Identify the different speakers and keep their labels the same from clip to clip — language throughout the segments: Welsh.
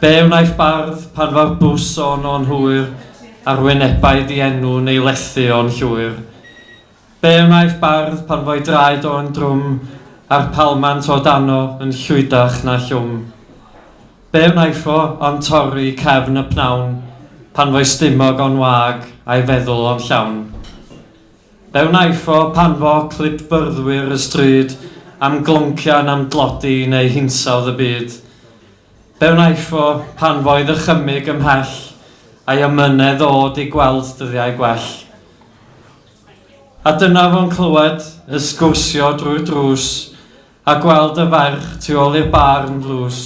Speaker 1: Be wnaiff bardd pan fo'r bws o no'n hwyr a'r wynebau di-enw'n ei lethu o'n llwyr? Be wnaiff bardd pan fo'i draed o'n drwm a'r palmant o dano yn llwydach na llwm? Be wnaiff o ond torri cefn y pnawn pan fo'i stumog o'n wag a'i feddwl o'n llawn? Be wnaiff o pan fo clipfyrddwyr y stryd am gloncian am dlodi neu hinsawdd y byd? Be wnaiff o pan fo i ddychymyg ymhell a'i amynedd ddod i gweld dyddiau gwell? A dyna fo'n clywed y sgwrsio drwy'r drws a gweld y ferch tu ôl i'r bar yn ddlws.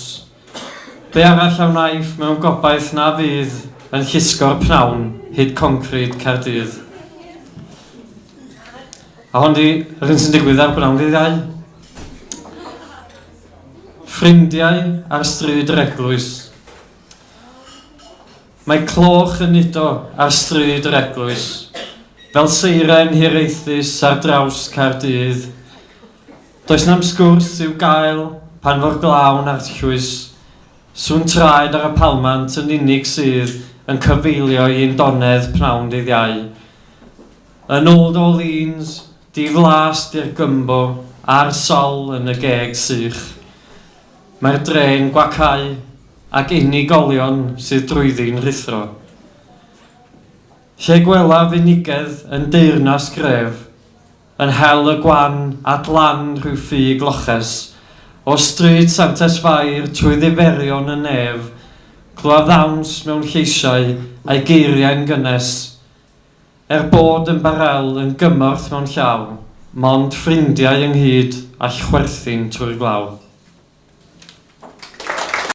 Speaker 1: Be arall a wnaiff mewn gobaith na fydd yn llusgo'r pnawn hyd concrid Caerdydd? A hon 'di yr hyn sy'n digwydd ar bnawn ddydd Iau. Ffrindiau ar stryd yr eglwys Mae cloch yn udo ar stryd yr eglwys Fel seiren hiraethus ar draws Caerdydd Does na'm sgwrs i'w gael pan fo'r glaw'n arllwys Sŵn traed ar y palmant yn unig sydd yn cyfeilio i ein donedd pnawn dydd Iau Yn Old Orleans Diflas di'r gumbo a'r sal yn y geg sych. Mae'r dre'n gwacáu ac unigolion sydd drwyddi'n rhuthro. Lle gwelaf unigedd yn deyrnas gref yn hel y gwan at lan rhyw ffug loches o Stryd Santes Fair trwy ddiferion y nef, clywaf ddawns mewn lleisiau a'i geiriau'n gynnes. Er bod yn barel yn gymorth mewn llaw, mond ffrindiau ynghyd all chwerthin trwy'r glaw.